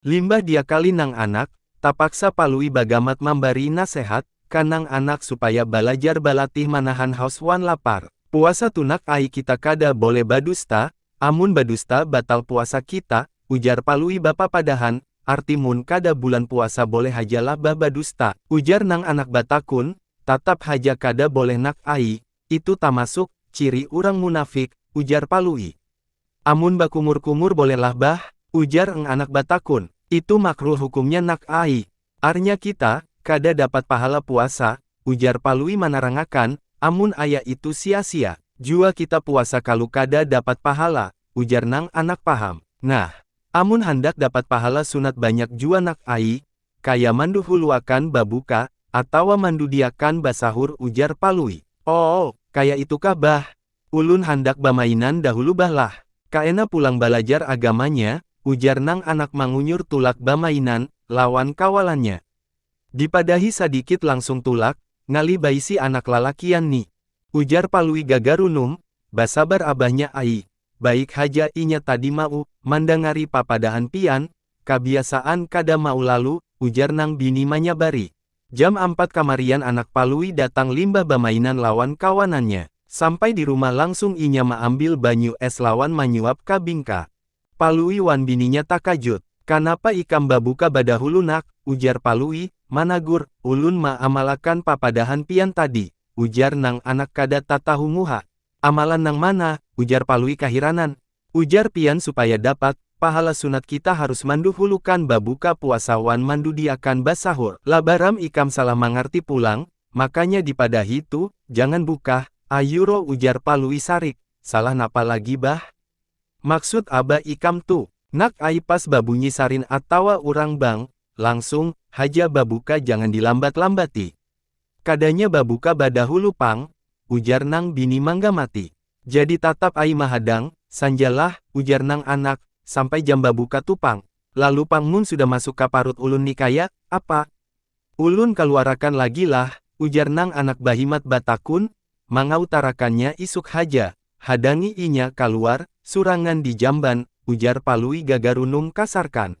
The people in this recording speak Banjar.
Limbah diakali nang anak, tapaksa Palui bagamat mambari nasehat ka nang anak supaya balajar balatih manahan haus wan lapar. Puasa tunak ai kita kada boleh badusta, amun badusta batal puasa kita, ujar Palui bapapadahan, arti mun kada bulan puasa boleh haja lah bah badusta, ujar nang anak batakun, tatap haja kada boleh nak ai, itu tamasuk, ciri urang munafik, ujar Palui. Amun bakumur-kumur boleh lah bah? ujar Eng Anak batakun. Itu makruh hukumnya Nak ai. Arnya kita, kada dapat pahala puasa, ujar Palui manarangakan, amun aya itu sia-sia. Jua kita puasa kalu kada dapat pahala, ujar nang Anak paham. Nah, amun handak dapat pahala sunat banyak jua Nak ai, kaya manduhuluakan babuka, atawa mandudiakan basahur ujar Palui. Oo, kaya itukah bah? Ulun handak bamainan dahulu bah lah, kaena pulang balajar agamanya, ujar nang anak mangunyur tulak bamainan lawan kawalannya. Dipadahi sadikit langsung tulak, ngalih baisi anak lalakian ni. Ujar Palui gagarunum, basabar abahnya ai, baik haja inya tadi mau mandangari papadahan pian, kabiasaan kada mau lalu, ujar nang bini manyabari. Jam ampat kamarian anak Palui datang limbah bamainan lawan kawanannya. Sampai di rumah langsung inya maambil banyu es lawan manyuap ka bingka. Palui wan bininya takajut. Kanapa ikam babuka badahulu nak? ujar Palui, managur, ulun maamalakan papadahan pian tadi, ujar nang anak kada tatahu muha. Amalan nang mana? ujar Palui kahiranan, Ujar pian supaya dapat pahala sunat kita harus manduhulukan babuka puasa wan mandudiakan basahur. Labaram ikam salah mangarti pulang, makanya dipadahi tu, jangan bukah, ayuro ujar Palui sarik, salah napa lagi bah? Maksud abah ikam tu. Nak ai pas babunyi sarin atawa urang bang, langsung, haja babuka jangan dilambat-lambati. Kadanya babuka badahulu pang, ujar nang bini manggamati. Jadi tatap ai mahadang, sanja lah, ujar nang anak, sampai jam babuka tu pang. Lalu pang mun sudah masuk ka parut ulun ni kaya, apa? Ulun kaluarakan lagi lah, ujar nang anak bahimat batakun, mangautarakannya isuk haja, hadangi inya kaluar, surangan di jamban, ujar palui gagarunum kasarkan.